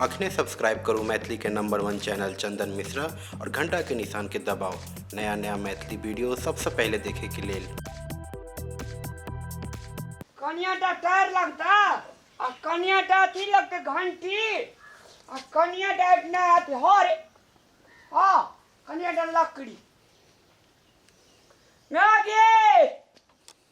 अखने सब्सक्राइब करू मैथिली के number one channel Chandan Mishra और घंटा के निशान के दबाओ नया नया मैथिली वीडियो सबसे पहले देखे के लेल कनियाटा टायर लगता आ कनियाटा अथी लगते घंटी आ कनियाटा ना अथी हर हाँ कनियाटा लकड़ी ना गे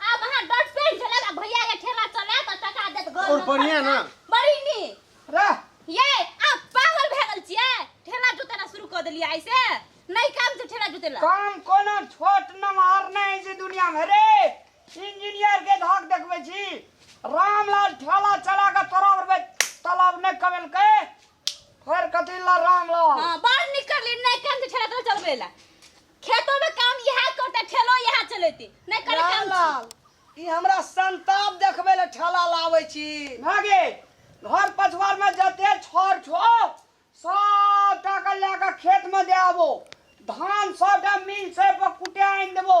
आब अहाँ डट पेन चलाएब आ भैया के ठेला चलाएब आ टका देत घर और बढ़िया ना बड़ी नी रे ये आप पागल भए गेल छियै ठेला जोतेना शुरू कऽ देलियै आइ से नहि काम छै ठेला जोतेला काम कोनो छोट नमहर नहि छै दुनिया में रे इंजीनियर के धाक देखबे छी रामलाल ठेला चला के तोरा बरबे तालाब नहि कमेलकै फेर कथी ला रामलाल हाँ बाहर निकल नहि काम छै ठेला तोरा चलबै ला खेतों में काम यह करते ठेलो यह चलेते नहीं करे काम रामलाल ई हमरा संताप देखबै लए ठेला लाबै छी भागे घर पछवार में जते छर छो सब टाका लए के खेत में दे आबो धान सबटा मिल से पर कुटे आनि देबो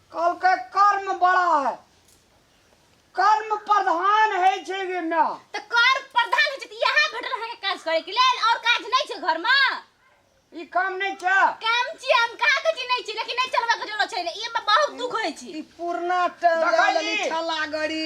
कहलकै कर्म बड़ा है कर्म प्रधान है छै गे माय तऽ कर्म प्रधान होइ छै तऽ इएह भेटल अहाँके काज करैके लेल आओर काज नहि छै घरमे ई काम नहि छै काम छियै हम कहाँ कहै छी नहि छी लेकिन नहि चलबैके जरूरत छै ई हमरा बहुत दुख होइ छै ई पुरना देखली? टलगड़ी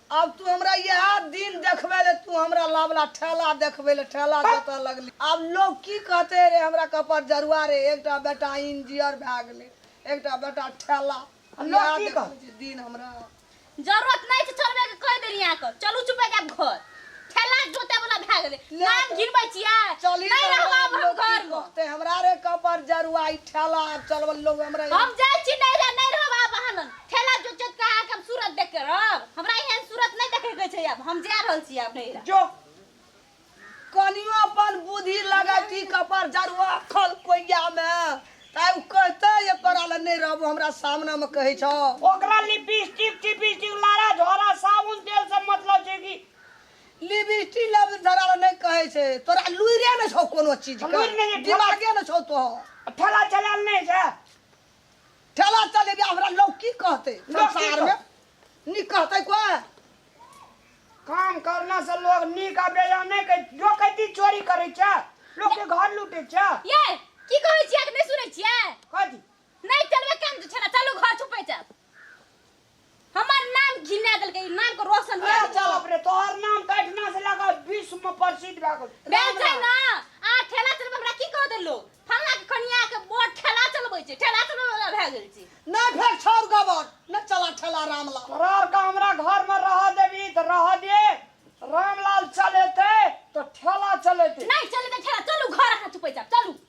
आब तू हमरा इएह दिन देखबै ले तू हमरा लावला ठेला देखबै ले ठेला जोतऽ लगली आब लोग की कहते रे हमरा कपर जरुआ रे एकटा बेटा इंजीनियर भए गेलै एकटा बेटा ठेला लोग की कहते दिन हमरा जरूरत नहीं छै चलबे के कह देली यहाँ के चलू चुपे जाब घर ठेला जोते वाला भए गेलै नाम गिरबै छियै चली नहीं रहब आब हम घर में ते हमरा रे कपर जरुआ ई ठेला आब चलबल लोग हमरा हम जाय छी नहीं रह नहीं रहब आब अहाँ लग ठेला जो चोट का आके हम सूरत देख के रहब हमरा एहन सूरत नहीं देखे के छै अब हम जा रहल छी अब नहीं जो कनियो अपन बुद्धि लगा की कपर जरुआ खल कोइया में ताय उ कहते ये करा ले नहीं रहबो हमरा सामने में कहै छौ ओकरा लिपस्टिक टिपस्टिक लारा झोरा साबुन तेल से मतलब छै कि लिपस्टिक लब धरा ले नहीं कहै छै तोरा लुइरे न छौ कोनो चीज लुरि नहि के छै, दिमागे न छौ तो ठेला चलाल नहि छै ठेला चले भी हमरा लोग की कहते लोग की संसार में कहते? नी कहते कोई काम करना से लोग नीक आ बेजा नहीं कह जो कहती चोरी करे छ लोग के घर लूटे छ ये की कहै छियै कि नहि सुनै छियै कथी नहि चलबे केन छला चलू घर छुपै छै हमर नाम घिना देलकै ई नाम के रोशन कए अरे देलकै। चल अपने तोहर नाम तऽ एहिठिना से लगा विश्व में प्रसिद्ध भए गेल भेल छै ना आ ठेला चलबै हमरा की कह देलो फल्ला के कनिया के बड़ ठेला चलबै छै ठेला चलबै वाला भए गेल छै नहि फेर छोड़ गबर नहि चला ठेला रामला तोरा आर का हमरा घर में रह देबी तऽ रह दे रामलाल चलेते तऽ ठेला चलेते नहीं चलबै ठेला चलू घर अहाँ चुपे जाब चलू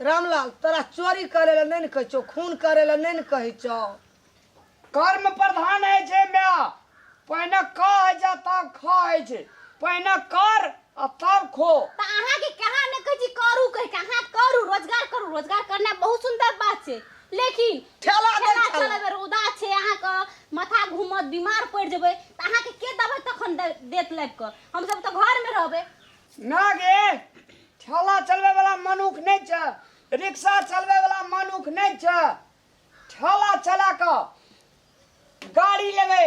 रामलाल तोरा चोरी करे ला नहीं न कहे छो खून करे ला नहीं न कहे छो कर्म प्रधान है जे माय पहिने कह है जा तब खा है जे पहिने कर आ तब खो त अहाँ के कहा न कहे छी करू कहे के अहाँ करू रोजगार करू रोजगार करना बहुत सुंदर बात छै लेकिन ठेला दे ठेला ठेला। चलबे रौदा छै अहाँ के माथा घूमत बीमार पड़ जेबै त अहाँ के के दबै तखन दे- देत लाग के हम सब त घर में रहबै ना गे ठेला चलबै वाला मनुख नहि छै रिक्शा चलबै वाला मनुख नहि छै ठेला चला कऽ गाड़ी लेबै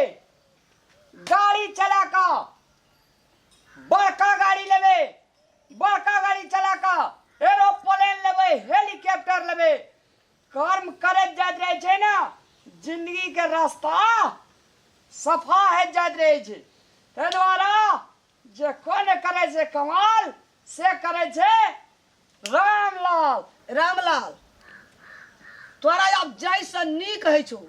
गाड़ी चला कऽ बड़का गाड़ी लेबै बड़का गाड़ी चला कऽ एरोप्लेन लेबै हेलीकॉप्टर लेबै कर्म करैत जाइत रहै छै ने जिन्दगीके रास्ता सफा होइत जाइत रहै छै ताहि दुआरे जे कोइ नहि करै छै कमाल से करै छै रामलाल रामलाल तोरा आब जाहिसँ नीक होइ छौ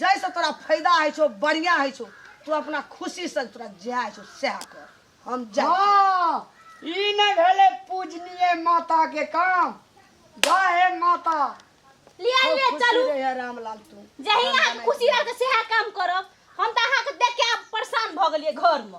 जाहिसँ तोरा फायदा होइ छौ बढ़िआँ होइ छौ तू अपना खुशीसँ तोरा जएह होइ छौ सएह कर हम जा हँ ई नहि भेलै पूजनीय माताके काम जा हे माता लिया खूब लिया खुशी चलू रहै रामलाल तू जही अहाँके खुशी रहत सएह काम करब हम तऽ अहाँके देख के आब परेशान भऽ गेलियै घरमे